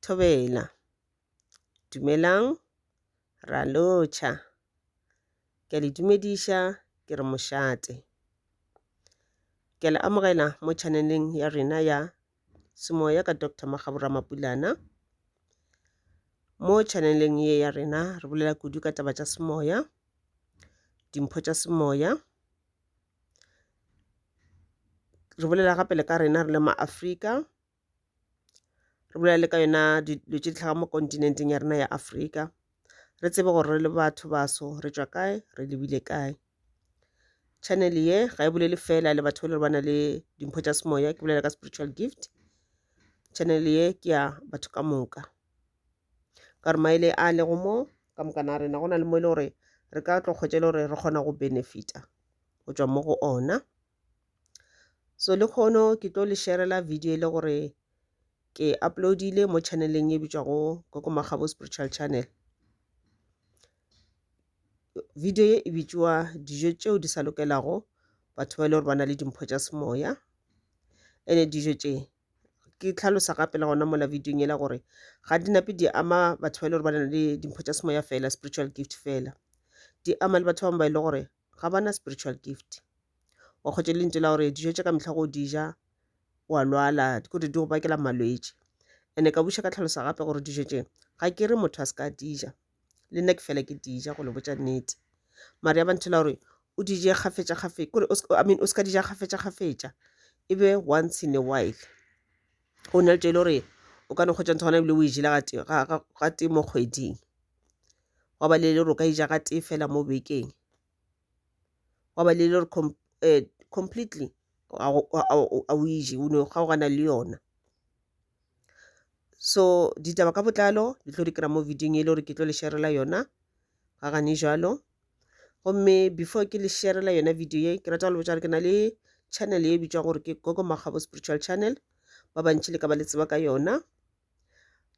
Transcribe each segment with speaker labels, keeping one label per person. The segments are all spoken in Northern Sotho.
Speaker 1: Thobela. Dumelang, ra lo cha. Ke a le dumediša, ke re mošate. Ke a le amogela mo chaneleng ya rena ya Semoya ka Doctor Magabura Mapulana. Mo chaneleng ye ya rena re bolela kudu ka taba tša semoya, dimpho tša semoya, re bolela gape le ka rena re le ma-Afrika, re bolela le ka yona dilo tše di hlaga mo kontinenteng ya rena ya Afrika, re tsebe gore re le batho baso re tšwa kae, re lebile kae. Channel ye ga e bolele fela le batho ba le ba na le dimpho tša semoya, ke bolela ka spiritual gift, channel ye ke ya batho ka moka. ka gore maele a lego mo ka mokana a rena go na le mo e le gore re ka tlo kgwetša e le gore re kgona go benefita go tšwa mo go ona so le kgono ke tlo le sharela video e le gore ke uploadile mo channeleng e bitšwago koko magabo spiritual channel video e e bitšwa dijo tšeo di sa lokelago batho ba e le gore ba na le dimpho tša semoya ene dijo tše ke tlhalosa gape le gona mola video yela gore ga di nape di ama batho ba e le gore ba na le dimpho tša semoya fela spiritual gift fela di ama le batho ba bangwe ba e le gore ga ba na spiritual gift wa kgwetša lentso la gore dijo tša ka mehla go di ja wa lwala dikore di go bakela malwetši ene ka buša ka tlhalosa gape gore dijo tše ga ke re motho a se ka di ja le nna ke fela ke dija go le botša nnete mare ya banthela gore o dije kgafetša kgafetša kore i mean o se ka dija kgafetša kgafetša e be once in a while go na le tšo e le gore o ka no kgwetša ntho gona ebile o e jela ga tee mo kgweding wa ba le le gore o ka ija ga tee fela mo bekeng wa ba le le gore eh, completely a o ije o ne kgaogana le yona so ditaba ka botlalo di tlo di kry-a mo videong e le gore ke tlo le sharela yona ga gane jalo gomme before ke le sharela yona video ye ke rata go le botsa gore ke na le channel e bitswa gore ke gogo makgabo spiritual channel ba bantši le ka ba le tseba ka yona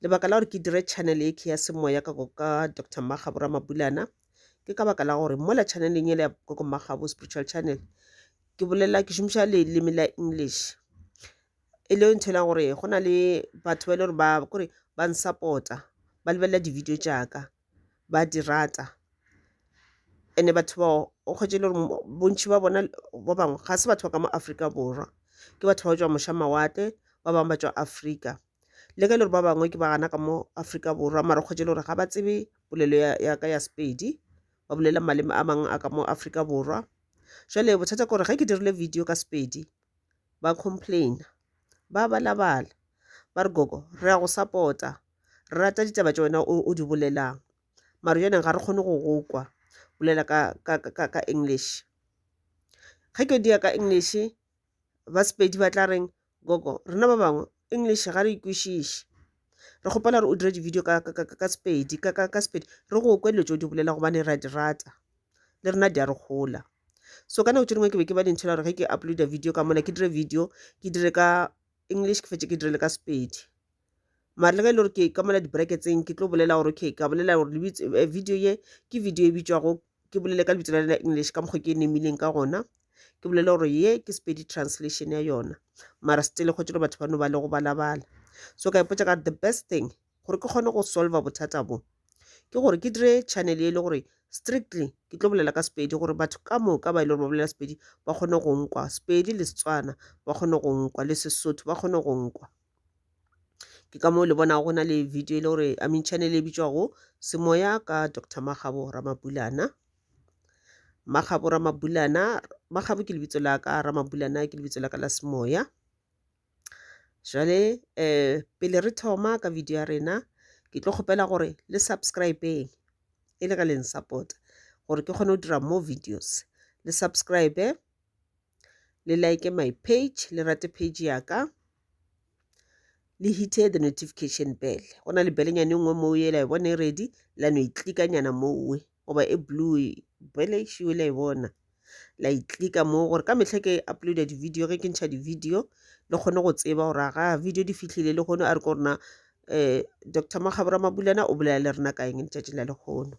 Speaker 1: lebaka la gore ke dire channel e ke ya semoya ka ka dr makgabo ramabulana ke ka baka la gore mola channeleng e le ya gogo makgabo spiritual channel ke bolela ke šomiša leleme la english e le ntho ela gore go na le batho ba e le gore ba kore ba n-support-a ba lebelela di-video tša ka ba di rata and-e batho bao o kgwetše e le gore bontši bja bona ba bangwe ga se batho ba ka mo Afrika Borwa ke batho ba tšwa moša mawatle ba bangwe ba tšwa Afrika le ge e le gore ba bangwe ke ba gana ka mo Afrika Borwa mara o kgwetše e le gore ga ba tsebe polelo ya ya ka ya Sepedi ba bolela maleme a mangwe a ka mo Afrika Borwa. Jwale bothata ke gore ge ke dirile video ka Sepedi ba complaina ba balabala ba re gogo re ya go sapota re rata ditaba tša wena o di bolelang mare yone ga re kgone go go kwa bolela ka, ka, ka, ka english ge ke dia ka english ba sepedi ba tla reng gogo rena ba bangwe english ga re ikwešiše re kgopela gore o dire di-video ka, ka, ka, ka sepedi ka, ka, ka sepedi re go kwe dilo tse o di bolela gobane ra di rata le rena di a re gola so ka nako tše dingwe ke be ke ba dintšhela gore ge ke uploada video ka mona ke dire video ke dire ka english ke fetse ke dire le ka sepedi mare le ge e le gore ke ka mola di-bracketseng ke tlo bolela gore okay ka bolela gore eh, video ye ke video e bitšwago ke bolele ka lebitso la lena english ka mokgwa ke e nemileng ka gona ke bolele gore ye ke sepedi translation ya yona mara still go tšelo batho ba no ba le go balabala so ka ipotsa ka the best thing gore ke kgone go solva bothata bo ke gore ke dire channel e le gore strictly ke tlo bolela ka sepedi gore batho ka moka ba e le gore ba bolela sepedi ba kgone go nkwa sepedi le setswana ba kgone go nkwa le sesotho ba kgone go nkwa ke ka moo le bona go na le video e le gore i mean channel e bitšwago semoya ka dr magabo ramabulana magabo ramabulana magabo ke lebitso la ka ramabulana ke lebitso la ka la semoya jale um pele re thoma ka video ya rena ke tlo kgopela gore le subscribeng e le ge leng support gore ke kgone go dira more videos le subscribe le like my page le rate page ya ka le hite the notification bell go na le belenyane nngwe moo e la e bone e ready la no e tlikanyana mowe goba e blue bjale e šwele e bona la e tlika mo gore ka mehla ke uploada di-video ge ke ntšha di-video le kgone go tseba gore ga video di fihlile le kgone a re ko rena um eh, dr makgabora mabulana o bolela le rena ka eng letšatši la lekgono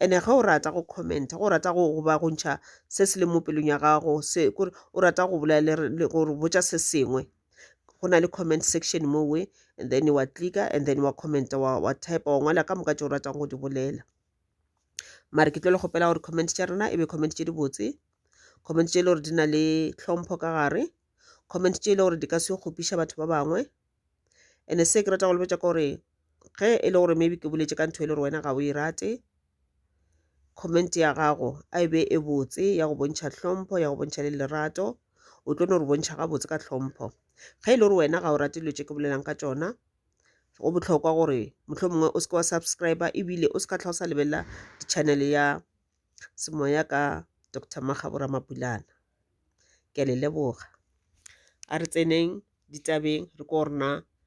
Speaker 1: ene ge o rata go commenta go rata go goba go ntšha se se le mo pelong ya gago se kore o rata go bolela gore botša se sengwe go na le comment section mo we and then wa clicka and then wa commenta wa, wa type wa ngwala ka moka tše o ratang go di bolela mare ke tlo le kgopela gore comment tša rena e be comment tše di botse comment tše e le gore di na le tlhompho ka gare comment tše e le gore di ka se kgopiša batho ba bangwe and se ke rata go lebetša ka gore ge e le gore maybe ke boletše ka ntho e le gore wena ga o e rate comment ya gago a e be e botse ya go bontšha hlompho ya go bontšha le lerato o tlo no re bontšha gabotse ka hlompho ge e le gore wena ga o rate dilo tše ke bolelang ka tšona go bohlokwa gore mohlho mongwe o seke wa subscribe ebile o se ka tlha o sa lebelela channel ya semoya ka dr magabora mapulana ke a le leboga a re tseneng ditabeng re ko rena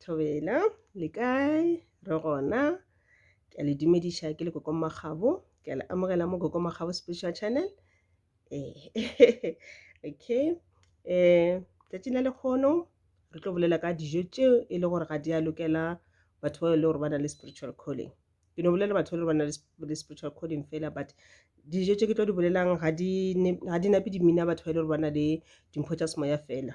Speaker 1: Thobela, le kae? Re gona. Ke a le dumediša ke le Koko Makgabo. Ke a le amogela mo Koko Makgabo Spiritual Channel. Eh, okay. Eh, tšatšing la lekgono re tlo bolela ka dijo tšeo e le gore ga di a lokela batho ba e le gore ba na le spiritual calling. Ke no bolela batho ba e le gore ba na le spiritual calling fela but dijo tše ke tlo di bolelang ga di nape dimina batho ba e le gore ba na le dimpho tša semoya fela.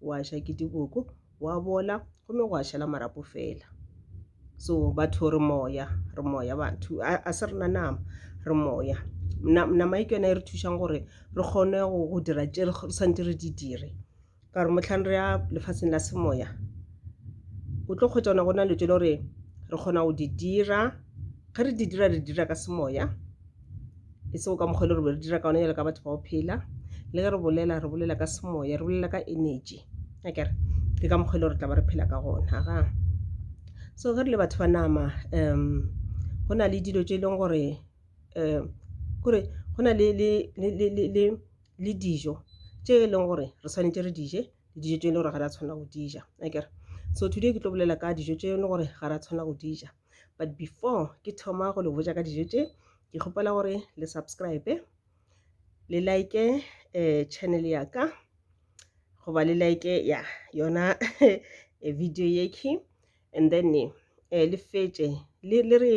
Speaker 1: wa ja ke diboko wa bola gomme gwa šala marapo fela so batho re moya re moya batho a se rena nama re moya nama e ke yone e re thušang gore re kgone go dira tše re santse re di dire ka gore motlhang re ya lefatsheng la semoya o tlo kgwetsa ona go na le tse le gore re kgona go di dira ge re di dira re dira ka semoya e sego ka mokgwa e le gore be re dira ka one jalo ka batho ba go phela le ge re bolela re bolela ka semoya re bolela ka energy a kere ke ka mokgwa e le gore tla ba re phela ka gona ga so ge re le batho ba nama um go na le dilo tse e leng gore um kore go na le le dijo tse e leng gore re tshwanetse re dije le dijo tse e le gore ga ra tshwanela go dija a kere so today ke tlo bolela ka dijo tse e leng gore ga ra tshwanela go dija but before ke thoma go le botša ka dijo tše ke kgopela gore le subscribe le like eh, channel ya ka goba le like ya yona eh, video yeke and then eh, le fetše le re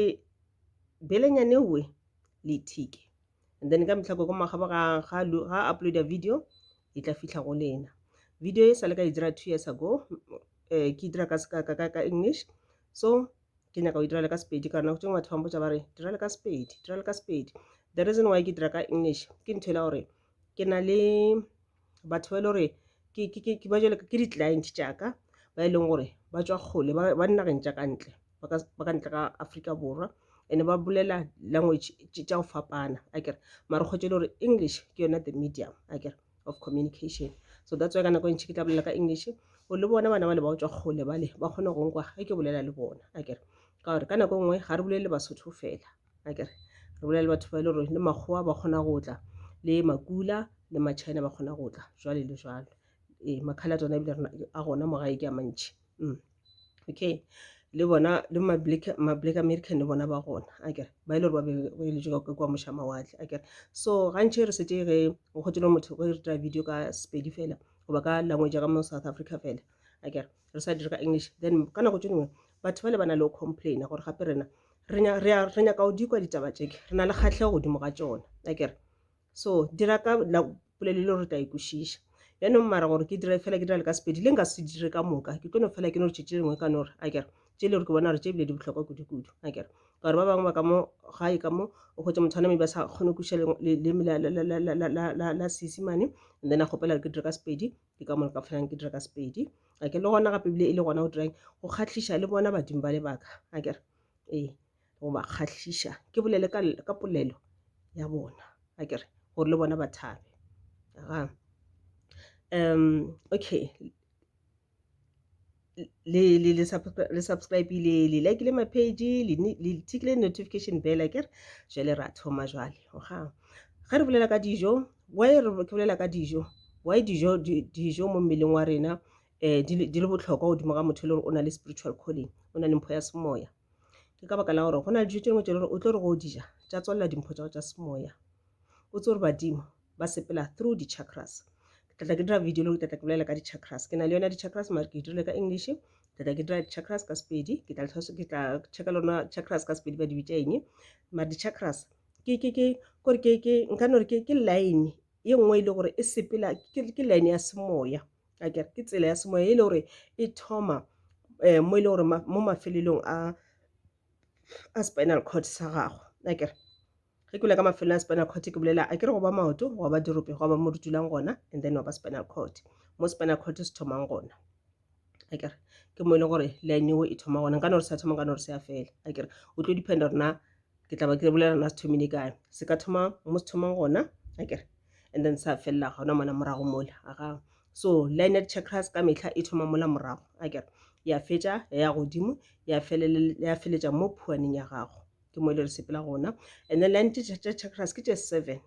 Speaker 1: belenyane we le thike and then ka mehla koko magabo ga ga ga upload a video e tla fihla go lena video e sale ka e dira two years ago eh ke dira ka ka ka ka english so ke nyaka go dira le ka sepedi ka nako tšengwe batho ba mpotsa ba re dira le ka sepedi dira le ka sepedi the reason why ke dira ka english ke ntho e le gore ke na le batho ba e le gore ke ba jwale ke di-client tša ka ba e leng gore ba tšwa kgole ba ba dinageng tša ka ntle ba ka ba ka ntle ga Afrika Borwa and ba bolela language tše tša go fapana akere mara o kgwetše e le gore English ke yona the medium akere of communication. So that's why ka nako e ntši ke tla bolela ka English gore le bona bana bale ba go tšwa kgole bale ba kgone go nkwa ge ke bolela le bona akere ka gore ka nako e nngwe ga re bolelele Basotho fela. a kere re bolela le batho ba e le gore le makgowa ba kgona go tla le makula le machina ba kgona go tla jwale le jwalo ee makhala tsona ebile a gona mo gae ke a mantšhi mm. okay le bona le ma-black american le bona ba gona a kere ba e le gore ba beeletswe ka kwa moša mawatle a kere so gantšhe re sete ge go kgotelo motho ge re tira video ka sepedi fela goba ka language ka mo south africa fela a kere re sa dire ka english then ka nako tse dingwe batho ba le ba na le go complaina gore gape rena re nyaka go dikwa ditaba tše re na le kgahlego godimo ga tšona a kere so dira ka polelo le gore tla ikwešiša yaanong mara gore ke dire fela ke dira le ka sepedi le nka se dire ka moka ke tlo no fela ke no re tšhe tše dingwe ka no re a kere tše le gore ke bona gore tše ebile di bohlokwa kudu-kudu a kere ka gore ba bangwe ba ka mo gae ka mo o kgotse motho aname ba sa kgone kuša leleme la seesimane and then a kgopela ke dire ka sepedi ke ka mona ka felang ke dira ka sepedi a ke le gona gape ebile e le gona go dirang go kgatlhiša le bona badimo ba lebaka a kere ee go ba kgatlhiša ke bolele ka polelo ya bona a kere gore le bona ba thabe um okay le le le le subscribe le le like le mapage le le tikile notification bell ke re jwale ra thoma jwale oga ge re bolela ka dijo why re ke bolela ka dijo why dijo dijo mo mmeleng wa rena eh di le botlhokwa godimo ga motho e le gore o na le spiritual calling o na le mpho ya semoya ke ka baka la gore go na le dijo tše dingwe tše le gore o tlo re go o dija tša tswalela dimpho tša go tša semoya o tse gore badimo ba sepela through di-chakras ke tlatla ke dira video le gore ke tlatla ke bolela ka di-chakras ke na le yona di-chakras mare ke dirile ka english ke tlatla ke dira di-chakras ka sepedi ke tla ke tla checka le rona chakras ka sepedi ba di bitša eng mare di-chakras ke ke ke kore ke ke nka no re ke ke line ye nngwe e le gore e sepela ke line ya semoya a kere ke tsela ya semoya e le gore e thoma um mo e le gore mo mafelelong a a spinal cord sa gago a kere ge ke bula ka mafelo a spinal cord ke bolela a kere go ba maoto go ba dirope go ba mo re dulang gona and then wa ba spinal cord mo spinal cord se thomang gona a kere ke mo e leng gore line eo e thoma gona nkane gore sa thoma nkane gore se ya fela a kere o tlo dependa gore na ke tla ba ke bolela na se thomile kae se ka thoma mo se thomang gona a kere and then sa felela gona mona morago mole aga so lined chakras ka metlha e thoma mola morago a kere ya fetša ya ya godimo ya feletša mo phuaneng ya gago ke mo e le re sepela gona and then lined chakras ke tše seven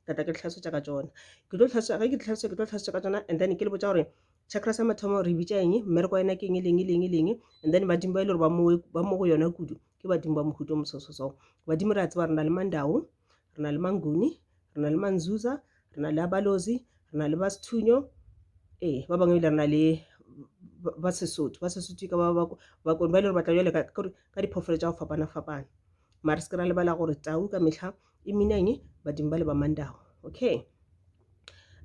Speaker 1: ka tla ke le tlhalosetša ka tšona ke tlo tlhalosetša ge ke tlhalosetša ke tlo tlhalosetša ka tšona and then ke le botša gore chakra sa mathomo re bitša eng mmereko wa yona ke eng leng leng leng and then badimo ba e le gore ba mo go yona kudu ke badimo ba mohuto mosososo badimo re a tseba re na le mandao re na le manguni re na le manzuza re na le abalozi re na le basithunyo ee ba bangwe ebile re na le ba sesotho ba sesotho ka bakone ba e le gore batla jale ka diphoofolo tša go fapana-fapana mare se ke ra lebala gore tau ka metlha e mina eng badimo ba le ba mandago okay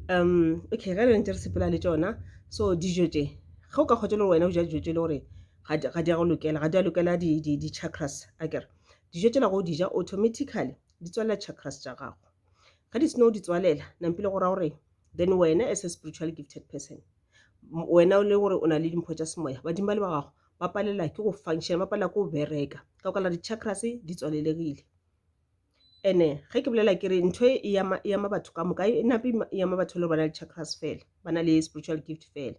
Speaker 1: um okay ge re ntse re sepela le tsona so dijo tse ge o ka kgotsa le gore wena o ja dijo tse le gore ga di a go lokela ga di a lokela di-chakras akere dijo tsela go o dija automatically di tswalela chakras tša gago ga di seno di tswalela nampile go ra gore then wena as a spiritual gifted person wena o le gore o na le dimpho tša semoya badimo ba le ba gago ba palela ke go function ba palela ke go bereka ka go kala di-chakras di tswalelegile And-e ge ke bolela ke re ntho e e ama, e ama batho ka moka e nape e ama batho e le gore ba na le chakras fela, ba na le spiritual gift fela.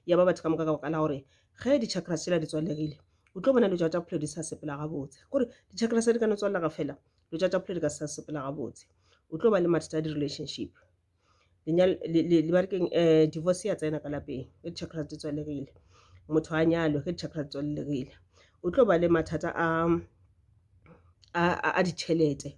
Speaker 1: E ama batho ka moka ka baka la gore ge di-chakras tsela di tswalegile o tlo bona dilo tša tša bophelo di sa sepela gabotse. Kore di-chakras di ka no tswalega fela dilo tša tša bophelo di ka se sa sepela gabotse. O tlo ba le mathata a di-relationship lenyalo um divorce ya tsena ka lapeng ge di chakras di tswalegile motho a nyalwe ge di chakras di tswalegile o tlo ba le mathata a a ditšhelete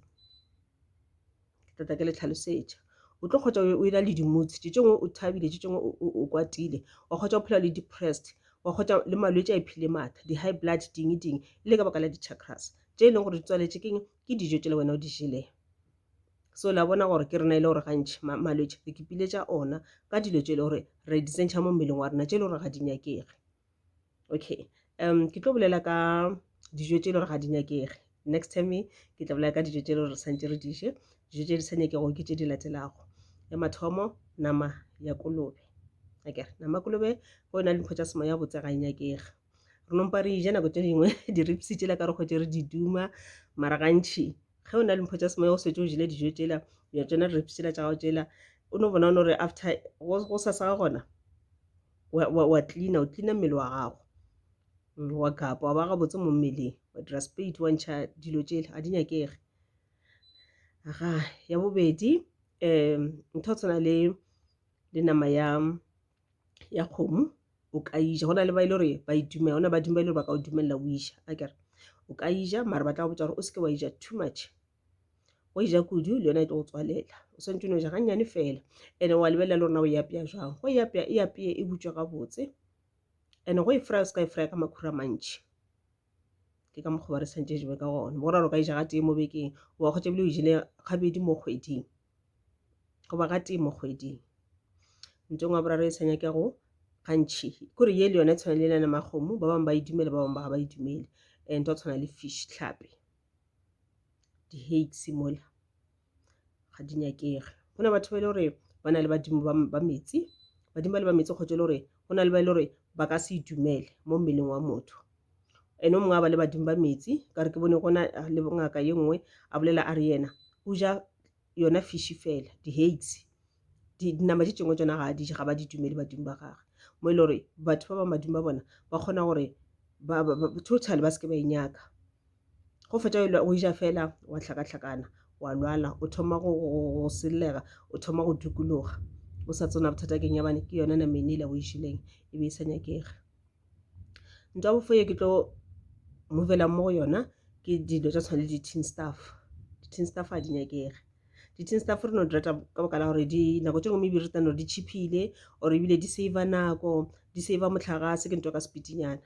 Speaker 1: ke tla ke le tlhalosetša o tlo kgotsa o e na le di-moods tše tšingwe o thabile tše tšingwe o kwatile wa kgotsa o phela le depressed wa kgotsa le malwetse a iphile maatla di-high blood dingwe dingwe e le ka baka la di-chakras tše e leng gore di tswaletše keng ke dijo tšela wena o di jeleng. so la bona gore ke rena e le gore gantšhi malwetse re kipile tša ona ka dilo tše e le gore re di tsentšha mo mmeleng wa rena tše e le gore ga di nyakege okay um ke tlo bolela ka dijo tše e le gore ga di nyakege next time ke tla bolela ka dijo tše e le gore re tshwanetse re diše dijo tše di sa nyakego ke tše di latelago ya mathomo nama ya kolobe akere nama kolobe go e na le dipho tša semoya botse ga e nyakege re nompa re ija nako tše dingwe diripsi tšela ka re kgwetše re di duma mara gantšhi ge o na le mpho tša semoya o swetse o jele dijo tšela ya tsona diripsi tšela tša gago tšela o no bona o no re after go sa sa gona wa cleana o cleana mmele wa gago mm, wa kapa wa ba gabotse mo mmeleng wa dira spate wa ntšha dilo tšela a di nyakege aga ya bobedi um ntho tshwana le le nama ya ya kgomo o ka ija go na le ba e le gore ba e dumela gona badimo ba e le gore ba ka o dumelela o ija a kere o ka ija mare ba tla go botsa gore o seke wa ija too much o e ja kudu le yona e tlo go tswalela o swantse no ja gannyane fela and-e wa lebelela le gorena o e apeya jang go e apeya e apeye e butswa gabotse and-e go e frya o se ka e frya ka makhura mantšhi ke ka mokgwa ba re santse jewe ka gona bo gore o ka e ja ga tee mo bekeng wa kgotsa ebile o e jele gabedi mo kgweding goba gatee mo kgweding. Ntong wa boraro e sa nyakego gantši kore ye le yone e tshwana le elana makgomo ba bangwe ba e dumele ba bangwe ba ga ba e dumele e nto tshwana le fish tlhape di-hakes mola ga di nyakege go na batho ba e le gore ba na le badimo ba metsi badimo ba le ba metsi kgotsa e le gore go na le ba e le gore ba ka se e dumele mo mmeleng wa motho ene o mongwe a ba le badimo ba metsi ka re ke bone gona ah, le ngaka ye nngwe a bolela a re yena o ja yona fishi fela di-haigs dinama di tšengwe tsona ga a dije ga ba di dumele badimo ba gage mo e le gore batho ba ba madimo ba bona ba kgona gore total ba se ke ba e nyaka go fetša go eja fela wa hlakahlakana wa lwala o thoma go sellega o thoma go dukologa o sa tsona bothata keng ya bane ke yona na mene ile go išileng e be e sa nyakege ntwa ya bofoye ke tlo movelang mo go yona ke dilo tša tshwana le di-tin staff di-tin staff ga di nyakege di-tin staff re no di rata ka baka la gore dinako tse ngwe maybe re tano di cheapile or ebile di save nako di save motlhagase ke ntwa ka sepitinyana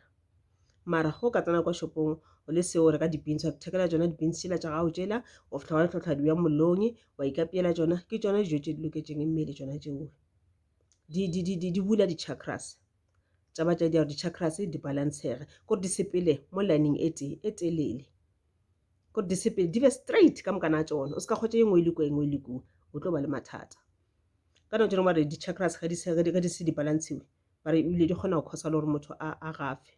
Speaker 1: mara go ka tsena kwa shopong o le seo reka di-beans wa thekela tsona di-beans tšela tša gago tšela o fitlha wa le tlhotlha diwa mollong wa ikapeela tsona ke tsona dijo tše di loketseng mmele tsona tseo di bula di-chakras tsa ba tša diaro di-chakras di balancege kore di sepele mo lining e tee e telele kore di sepele di be straight ka mokana a tsona o se ka kgwetsa e nngwe e le ko e nngwe e le ko o tlo ba le mathata ka nako tsone ba re di-chakras ga di se di balantshiwe ba re ebile di kgona go causer le gore motho a a gafe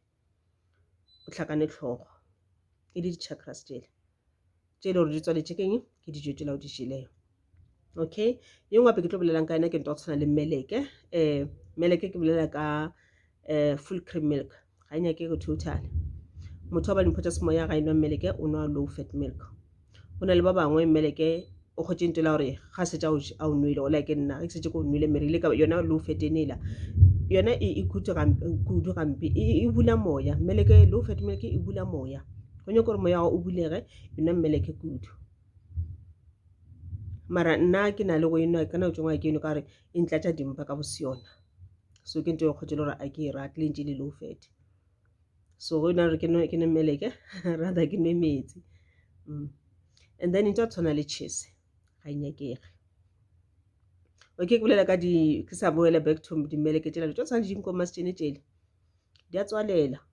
Speaker 1: o hlakane tlhogo e le di-chakras tšele tše e le gore di tswaletše keng ke dijo tšela o di jelego okay ye nngwe gape ke tlo bolelang ka yena ke nto go tshwana le meleke um meleke ke bolela ka um full cream milk ga e nyake go total motho wa ba dimpho tša semoya ga e nwa mmeleke o nwa low fat milk go na le ba bangwe mmeleke o kgotše nto la gore ga se tša a o nwele ola ke nna ge ke setse ko o nwele mere ile ka yona low fat e nela yona e, e khutse kudu gampe e, e bula moya mmeleke low fat mmeleke e bula moya go nyako gore moya o bulege e nwa mmeleke kudu mara nna ke na le go enwa ka nao tšengwa ke eno ka gore e ntlatša dimpa ka boseyona so ke nto yo kgotse le gore a ke e rate le ntse le low fat so go yona gore ke nwe meleke rather ke nwe metsi mm. and then into tshwana le chese ga inyakege okay ke bolela ka di ke sa boela back to dimeleke tšela tšo tshwana le dinkomasitšene tšele di a tswalela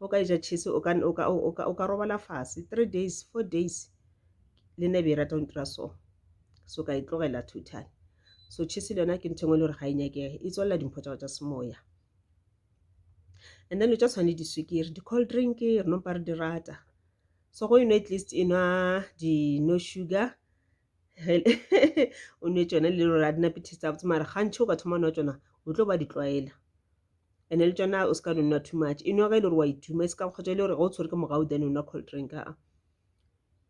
Speaker 1: o ka eja cheese o ka, o ka, o ka, o ka robala fase three days, four days le nebe e rata go ntira so. So ka e tlogela totally. So cheese le yona ke ntho engwe e le gore ga e nyakege, e tswalela dimpho tsa go tsa semoya. And then lo tsa tshwane diswikiri, di-cold drink re no mpa re di rata. So go enwa at least enwa di-no sugar. o nwe tšona le lora di nape taste gabotse mara gantšhi o ka thoma nwa tšona o tlo ba di tlwaela and le tšona o se ka nwa too much e nwa ge e le gore wa ituma e se ka kgotsa e le gore ga o tshwere ke mogao then o nwa cold drink a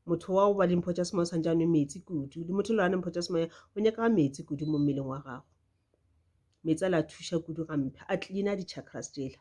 Speaker 1: motho wa go ba le mpho tša semoya o tshwanetse a nwe metsi kudu le motho le rane mpho tša semoya o nyakaga metsi kudu mo mmeleng wa gago metsi a la thuša kudu gampe a cleana di-chakras tsela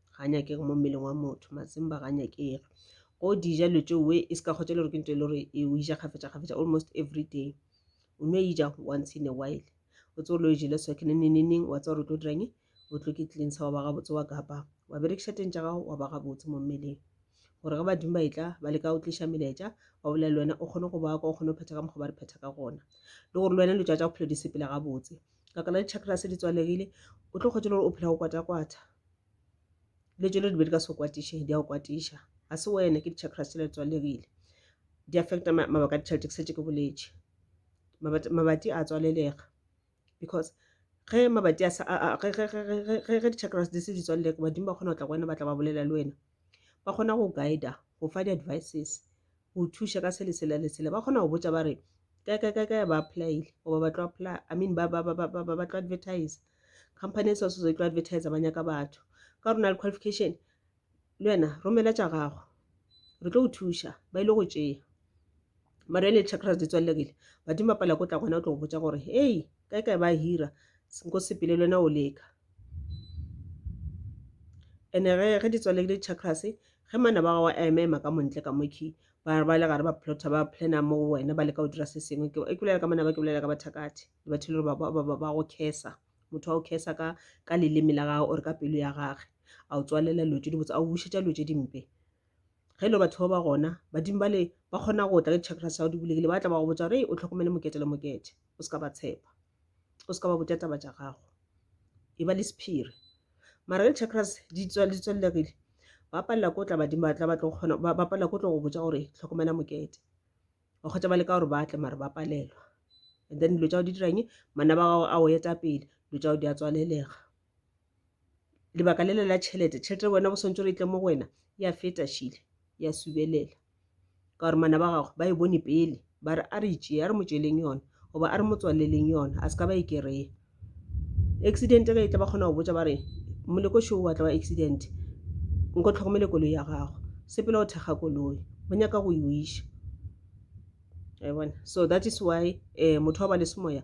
Speaker 1: ga nyakege mo mmeleng wa motho matsimba ga nyakege go dija lo tšeo we e se ka kgotsa le gore ke ntho e le gore e o ija kgafetša kgafetša almost every day o no ija once in a while o tse o lo e jele so ke neneneneng wa tsa gore o tlo dirang o tlo ke tleng sa wa ba gabotse wa kapa wa berekiša teng tša gago wa ba gabotse mo mmeleng gore ge badimo ba etla ba leka go tliša melaetša wa bolela le wena o kgone go ba kwa o kgone go phetha ka mokgwa ba re phetha ka gona le gore le wena lo tšatša bophelo di sepela gabotse Lebaka la di-chakras di tswalegile o tlo kgwetšwa le gore o phela go kwata-kwata. Dilo tšelo di be di ka se go kwatiše, di a go kwatiša. Ga se wena, ke di-chakras tšela di tswalegile. Di affecta mabaka a ditšhelete, ke šetše ke boletše. Mabati a tswalelega because ge mabati a sa, ge di-chakras di se di tswalelege badimo ba kgona go tla go wena ba tla ba bolela le wena. Ba kgona go guide-a, go fa di-advices. go thuša ka se lesela lesela ba kgona go botša ba re kae kae kae kae ba applyile goba ba tlo apply i mean ba ba ba ba ba ba ba tlo advertise company e swasoso e tlo advertise ba nyaka batho ka rona le qualification le wena romela tša gago re tlo go thuša ba ile go tšea mara ele chakras di tswalelekile badimo ba pala ko tla gona o tlo go botša gore hei kae kae ba hira nko sepele le wena o leka And ge ge di tswaledi di chakras ge manaba a gago a ema ema ka montle ka mokhwi ba ba le gare ba plota ba plana mo go wena ba leka go dira se sengwe ke e kulela ka manaba ke bolela ka bathakati le batho le ba ba ba go khesa motho wa go khesa ka ka leleme la gago or ka pelo ya gage a o tswalela lo tse di botsa a o bušetsa lo tse dimpe ge lo batho ba ba gona badimo ba le ba kgona go tla ke chakras ya go di bulegile ba tla ba go botsa gore o tlhokomele mokete le mokete o se ka ba tshepa o se ka ba botša taba tša gago e ba le sephiri mara le chakras di tswelelagile ba palela ko tla badimo ba tla ba tlo kgona ba palela ko tlo go botša gore tlhokomela mokete ba kgotsa ba le ka gore ba tle mara ba palelwa and then dilo tša go di dirang mana ba gago a o eta pele dilo tša go di a tswalelega lebaka lele la tšhelete tšhelete ya wena go swantšwe gore e tle mo go wena ya feta šele ya subelela ka gore mana ba gago ba e bone pele ba re a re tšee a re mo tšeleng yona goba a re mo tswaleleng yona a se ka ba e kereye accident ge e tla ba kgona go botsa ba re moleko šo wa tla wa accident nko tlhokomele koloi ya gago sepele go thekga koloi go nyaka go e o iša bona so that is why um motho wa ba le semoya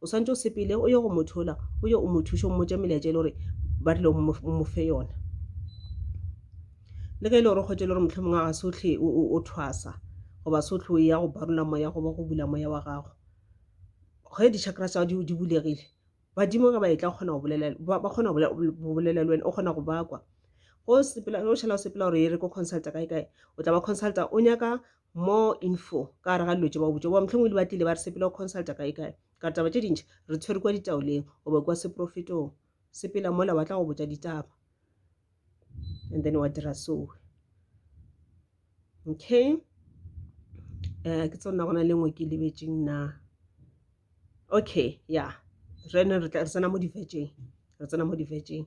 Speaker 1: O swanetše o sepele o ye go motho ola, o ye o mo thuše, o mmotše melaetša e le gore ba rile o mo fe yona. Le ge e le gore o kgwetše e le gore mohlomongwe a ga se otlhe o thwasa goba se otlhe o ya go barola moya goba go bula moya wa gago, ge di-chakra tsa gago di bulegile badimo ge ba e tla ba kgona go bolela le wena, o kgona go ba kwa. Ge o šala o sepela gore e re ko consulta kae kae, o tla ba consulta o nyaka More info ka gare ga dilo tše ba go botša goba mohlomongwe di batlile ba re sepela go consulta kae kae ka re taba tše dintši re tshwere kwa ditaoleng goba kwa seprofetong sepela mola wa tla go botša ditaba and then wa dira soe okay um ke tsona gona le ngwe ke lebetseng na okay ya yeah. re ne re tsena mo divetšeng re tsena mo divetšeng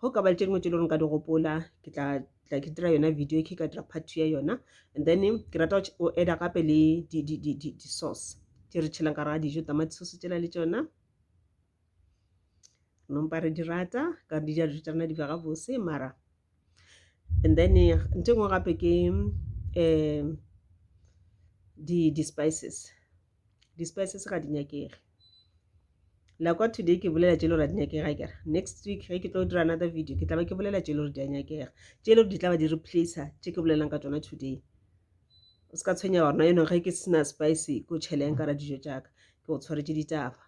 Speaker 1: go ka ba le tše dingwe tše e le gore ka di gopola ke tla tla ke dira yona video ke ka dira part two ya yona and then ke rata go eda gape le di-sauce tše re tšhelang ka raga dijo tamati sauce tšela le tšona nompa re di rata ka di ja dijo tša rena di bega bose mara and then nte nngwe gape ke um di-spices di-spices ga di nyakege like wa today ke bolela tše le gore a di nyakega kere next week ge ke tlo dira another video ke tla ba ke bolela tše le gore di a nyakega tše le gore di tla ba di replace tše ke bolelang ka tsona today o se ka tshwenya gorena yone ge ke sena spice ko tšheleng ka ra dijo tša ka ke go tshwaretše ditaba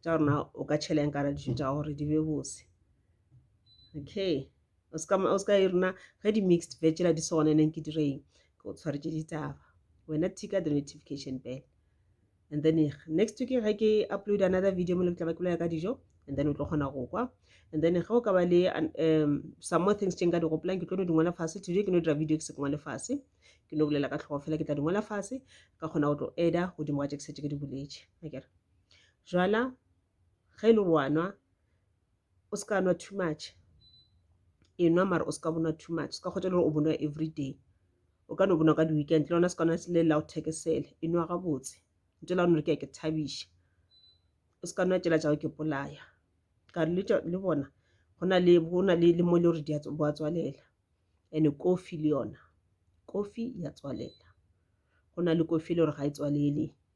Speaker 1: tša gore na o ka tšhela eng ka ra dijo tša gago gore di be bose okay o se ka o se ka e rena ge di mixed veg la di sone neng ke dire eng ke o tshwaretše ditaba wena tika the notification bell and then next week ge ke upload another video mo le tla ba ke bolela ka dijo and then o tlo kgona go kwa and then ge o ka ba le um some more things tše nka di gopolang ke tlo no di ngwala fase today ke no dira video ke se ke ngwale fase ke no bolela ka tlhogo fela ke tla di ngwala fase ka kgona go tlo eda godimo ga tše ke setse ke di boletše akere okay. Jwala ge e le gore wa nwa o se ka nwa too much e nwa mara o se ka bo nwa too much o se ka kgotša le gore o bo nwa everyday o ka no bo nwa ka di-weekend le lona se ka nwa le la go thekesela e nwa gabotse ntho ela gona gore ke ya ke thabiša o se ka nwa tšela tša go ke bolaya ka re le bona go na le go na le mo e le gore di a bo a tswalela and-e kofi le yona kofi ya tswalela go na le kofi e le gore ga e tswalele